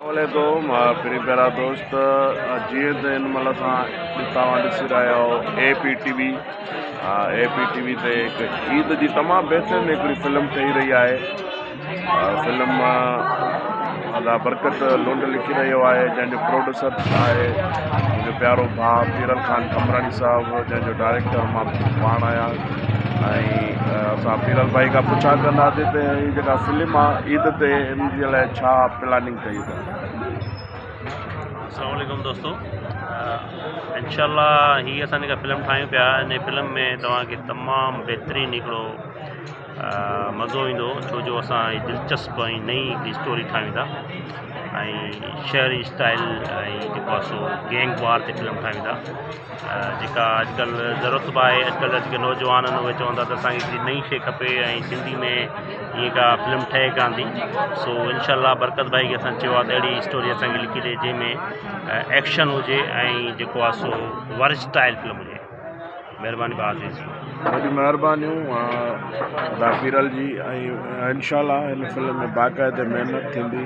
عليڪم پھرين پيارا دوست جيئن ته ان مھل اسان توھان ڏسي رھيا آھيو A P T V A P T V تي هڪ عيد جي تمام بهترين هڪڙي فلم ٺهي رهي آهي فلم ادا برڪت لنڊ لکي رهيو آهي جنهن جو پروڊيوسر آهي منهنجو پيارو ڀاء پيرل خان قمراڻي صاحب جنهن جو ڊائريڪٽر مان پاڻ آهيان ۽ اسان پيرل ڀائي کان پڇا ڪنداسين ته هي جيڪا فلم آ عيد تي ان جي لاء ڇا پلاننگ ڪئي اٿن السلام عليڪم دوستو انشاء الله هي اسان جيڪا فلم ٺاهيون پيا ان فلم ۾ توهان کي تمام بهترين هڪڙو مزو ايندو ڇو جو اسان دلچسپ ۽ نئي هڪ اسٽوري ٺاهيون ٿا ۽ شهري اسٽائل ۽ جيڪو سو گينگ وار تي فلم ٺاهيون ٿا جيڪا اڄ ڪلهه ضرورت به آهي اڄ ڪلهه جيڪي نوجوان آهن اهي چون ٿا ته اسان کي ڪي نئي شي کپي ۽ سنڌي ۾ ائين ڪا فلم ٺهي ڪانه ٿي سو انشاء الله برڪت ڀائي کي اسان چيو آهي ته اهڙي اسٽوري اسان کي لکي ڏي جنهن ۾ ايڪشن هجي ۽ جيڪو آهي سو ورسٽائل فلم هجي مهرباني بها عزيز جي وڏيون مهربانيون ادا پيرل جي ۽ انشاء الله هن فلم ۾ باقاعده محنت ٿيندي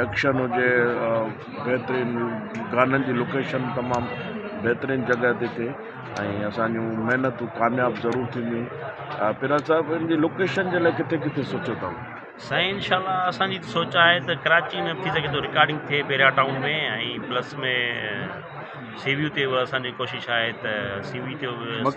ايڪشن هجي بهترين گانن جي لوڪيشن تمام بهترين جڳهه تي ٿئي ۽ اسان جون محنتون ڪامياب ضرور ٿينديون پيرا صاحب ان جي لوڪيشن جي لاء ڪٿي ڪٿي سوچيو اٿم سائين انشاء الله اسان جي سوچ آهي ته ڪراچي ۾ ٿي سگهي ٿو رڪارڊنگ ٿئي پيرا ٽائون ۾ ۽ پلس ۾ سي ويو تي اسان جي ڪوشش آهي ته سي ويو تي